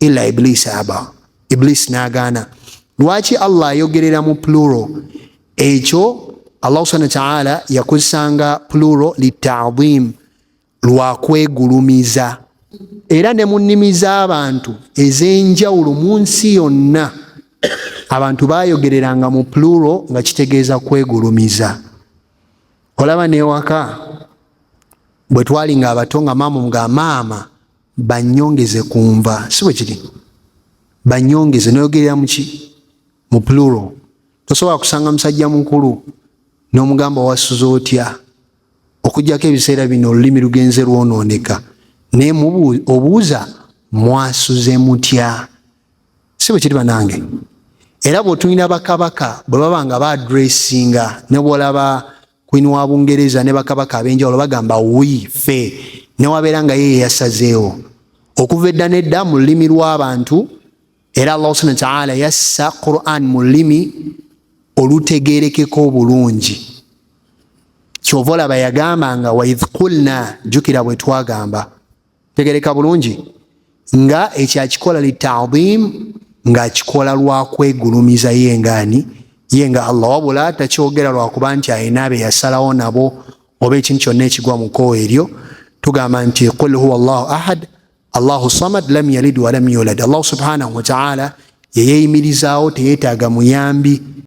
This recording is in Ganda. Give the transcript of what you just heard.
ila iblis aba iblis nagaana lwaki allah ayogerera mu pluro ekyo allah subhana wataala yakozesanga pluro litadimu lwakwegulumiza era ne mu nnimi z'abantu ez'enjawulo mu nsi yonna abantu bayogereranga mu pluro nga kitegeeza kwegulumiza olaba newaka bwe twali nga abato nga maama nga maama banyongeze ku nva si bwe kiri banyongeze noyogerera muki mu pluro tosobola kusanga musajja mukulu n'omugamba wasuza otya okujjako ebiseera bino olulimi lugenze lwonooneka naye obuuza mwasuze mutya si bwe kiri banange era bw'otulina bakabaka bwe baba nga baadressinga ne bwolaba Queen wa Bungereza ne bakabaka ab'enjawulo bagamba wi fe newabeera nga ye yeyasazeewo okuva edda n'edda mu lulimi lw'abantu era Allah subhanahu wa ta'ala yassa Quran mu lulimi olutegeerekeka obulungi kyova olaba yagamba nga waidh qulna jukira bwe twagamba tegereka bulungi nga ekyo akikola litadimu ng'akikola lwa kwegulumiza ye ngaani ye nga allah wabula takyogera lwakuba nti alina be yasalawo nabo oba ekintu kyonna ekigwa mu kkowa eryo tugamba nti qul huwa llahu ahad allahu samad lam yalid walam yulad allahu subhanahu wataala yeyeyimirizaawo teyeetaaga muyambi